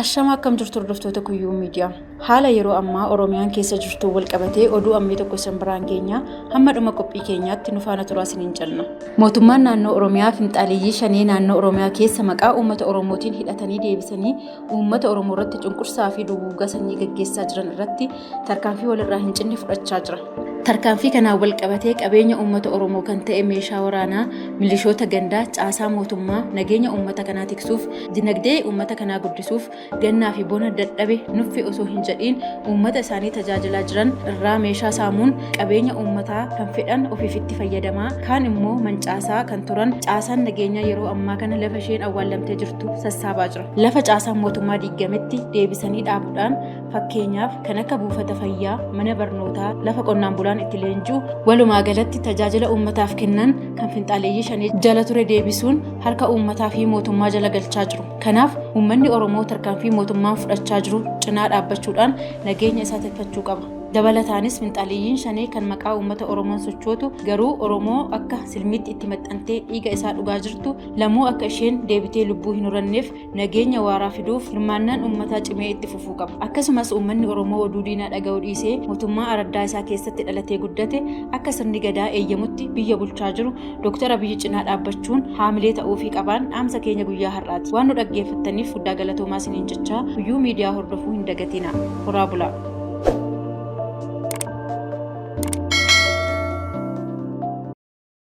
Ashamaa akkam jirtu hordoftoota Kuyyuu Miidiyaa. Haala yeroo ammaa Oromiyaan keessa jirtu wal qabatee oduu ammee tokko isin biraan keenya hamma dhuma qophii keenyaatti nu faana turaa isiniin jenna. Mootummaan naannoo Oromiyaa finxaaleeyyii shanee naannoo Oromiyaa keessa maqaa uummata Oromootiin hidhatanii deebisanii uummata Oromoo irratti cunqursaa fi duguuggaa sanyii gaggeessaa jiran irratti tarkaanfii walirraa hin cinne fudhachaa jira. Tarkaanfii kanaan wal qabatee qabeenya uummata Oromoo kan ta'e meeshaa waraanaa, milishoota gandaa, caasaa mootummaa, nageenya uummata kanaa tiksuuf, dinagdee uummata kanaa guddisuuf, gannaa fi bona dadhabe nuffi osoo hin jedhiin uummata isaanii tajaajilaa jiran irraa meeshaa saamuun qabeenya uummataa kan fedhan ofiif itti fayyadamaa kaan immoo mancaasaa kan turan caasaan nageenyaa yeroo ammaa kana lafa isheen awwaallamtee jirtu sassaabaa jira. Lafa caasaan mootummaa diigametti deebisanii dhaabuudhaan Fakkeenyaaf, kan akka buufata fayyaa, mana barnootaa, lafa qonnaan bulaan itti leenji'u, walumaa galatti tajaajila uummataaf kennan kan finxaaleeyyii shanee jala ture deebisuun harka uummataa fi mootummaa jala galchaa jiru. Kanaaf, uummanni Oromoo tarkaanfii mootummaan fudhachaa jiru cinaa dhaabbachuudhaan nageenya isaa tikfachuu qaba. Dabalataanis finxaaleeyyiin shanee kan maqaa uummata Oromoon sochootu garuu Oromoo akka silmiitti itti maxxantee dhiiga isaa dhugaa jirtu lamuu akka isheen deebitee lubbuu hin horanneef nageenya waaraa fiduuf hirmaannaan uummataa cimee itti fufuu qaba. Akkasumas uummanni Oromoo oduu diinaa dhaga'uu dhiisee mootummaa araddaa isaa keessatti dhalatee guddate akka sirni gadaa eeyyamutti biyya bulchaa jiru Dooktar Abiyyi cinaa dhaabbachuun haamilee ta'uufii qabaan dhaamsa keenya guyyaa har'aati. Waan nu dhaggeeffattaniif guddaa galatoomaa isiniin jechaa guyyuu miidiyaa hordofuu hin dagatina. Horaa bulaa!